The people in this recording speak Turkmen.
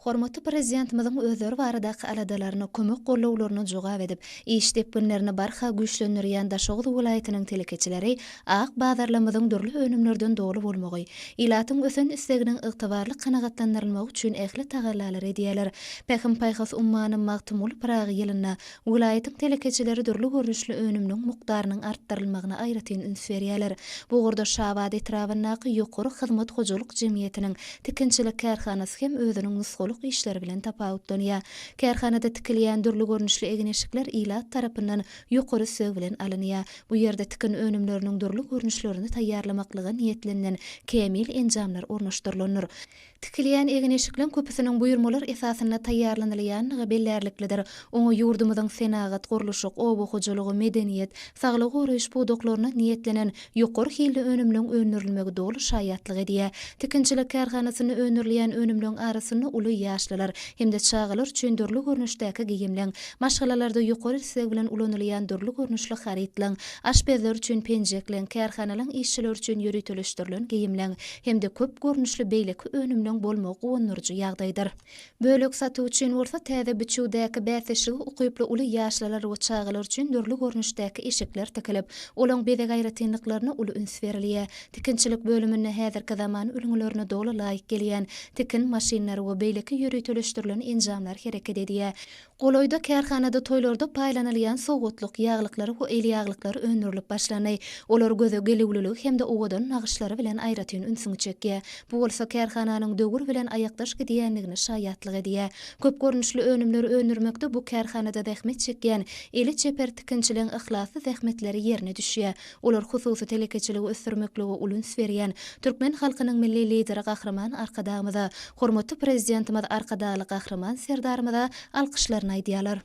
Hormatly Prezidentimiziň özleri baradaky aladalaryna, kömek-gollawlaryna jogap edip, iş depginlerini barha güýçlendirýän Daşoguz welaýatynyň telekeçileri ak bazarlarymyzyň dürli önümlerden doly bolmagy, ilatyň ösen isleginiň ygtybarly kanagatlandyrylmagy üçin ähli tagallalary edýärler. Pähim-paýhas ummany Magtymguly Pyragy ýylynda Welaýatyň telekeçileri dürli görnüşli önüminiň mukdarynyň artdyrylmagyna aýratyn üns berýärler. Bu ugurda Şabat etrabyndaky Ýokary hyzmat hojalyk jemgyýetiniň tikinçilik kärhanasy hem özüniň nusgalyk işleri bilen tapawutlanýar. Kärhanada tikilýän dürli görnüşli egin-eşikler ilat tarapyndan ýokary sög bilen alynýar. Bu ýerde tikin önümleriniň dürli görnüşlerini taýýarlamaklyga niýetlenilen kämil enjamlar ornaşdyrylandyr. Tikilýän egin-eşikleň köpüsiniň buýurmalar esasynda taýýarlanylýandygy bellärliklidir. Oňa ýurdumyzyň senagat, gurluşyk, oba hojalygy, medeniýet, saglygy goraýyş pudaklarynda niýetlenen ýokary hilli önümleň öndürilmegi doly şaýatlyk edýär. Tikinçilik kärhanasynda öndürilýän önümleň arasynda uly ýaşlylar hem-de çagalar üçin dürli görnüşdäki geýimleň, maşgalalarda ýokary isleg bilen ulanylýan dürli görnüşli harytlaň, aşpezler üçin penjekleň, kärhanalaň işçileri üçin ýöriteleşdirilen geýimleň, hem-de köp görnüşli beýleki önümleň bolmagy guwandyryjy ýagdaýdyr. Bölek satuw üçin bolsa täze biçüwdäki bäsdeşlige ukyply uly ýaşlylar we çagalar üçin dürli görnüşdäki eşikler tikilip, olaň bezeg aýratynlyklaryna uly üns berilýär. Tikinçilik bölüminde häzirki zaman ülňülerine doly laýyk gelýän tikin maşynlary we beýleki ýöriteleşdirilen enjamlar hereket edýär. Golaýda kärhanada toýlarda paýlanylýan sowgatlyk ýaglyklary we el ýaglyklary öndürilip başlandy. Olar göze gelüwliligi hem-de owadan nagyşlary bilen aýratyn ünsüňi çekýär. Bu bolsa kärhananyň döwür bilen aýakdaş gidýändigine şaýatlyk edýär. Köp görnüşli önümleri öndürmekde bu kärhanada zähmet çekýän eli çeper tikinçileň yhlasly zähmetleri ýerine düşýär. Olar hususy telekeçiligi ösdürmeklige uly üns berýän türkmen halkynyň Milli Lideri Gahryman Arkadagymyza, hormatly Prezidentimiz Arkadagly Gahryman Serdarymyza alkyşlaryny aýdýarlar.